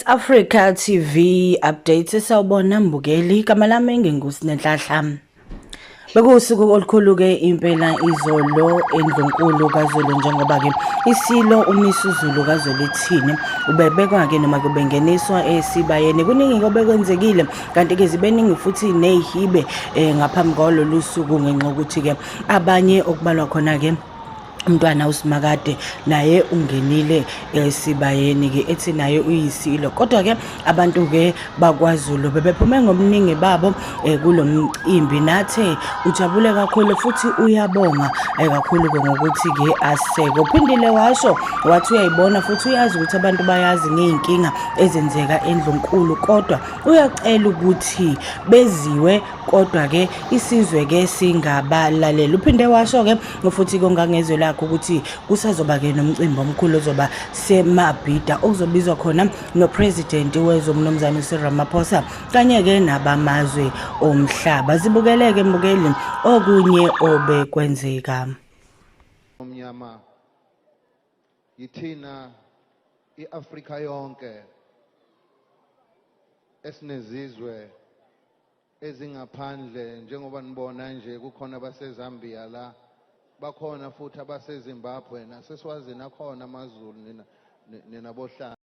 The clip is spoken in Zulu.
Africa TV updates sawubona mbukeli igama lami ngingusi nenhlahla Bekuwusuku olukhulu ke impela izolo endlunkulu kaZulu njengoba ke isilo umisuzulu kaZulu ithini ubebekwa ke noma kubengeniswa esibayeni kuningi kobekwenzekile kanti ke zibeningi futhi nezihibe eh, ngaphambi kwalolu suku ngenxa ukuthi ke abanye okubalwa khona ke umntwana usimakade naye ungenile esibayeni-ke ethi naye uyisilo kodwa-ke abantu-ke bakwazulu bebephume ngobuningi babo um eh, kulo mcimbi nathe ujabule kakhulu futhi uyabonga um kakhulu-ke ngokuthi-ke aseke uphindile washo wathi uyayibona futhi uyazi ukuthi abantu bayazi ngey'nkinga ezenzeka endlunkulu kodwa uyacela ukuthi beziwe kodwa-ke isizwe-ke singabalaleli uphinde washo-ke futhi kongangezwe lakho ukuthi kusazoba-ke nomcimbi omkhulu ozoba semabhida okuzobizwa khona nopresidenti wezwe umnumzane usiramaphosa kanye-ke nabamazwe omhlaba zibukeleke mbukeli okunye obekwenzeka omnyama yithina i-afrika yonke esinezizwe ezingaphandle njengoba nibona nje kukhona abaseZambia la bakhona futhi abaseZimbabwe naseSwazini akhona amaZulu nina nina bohlanga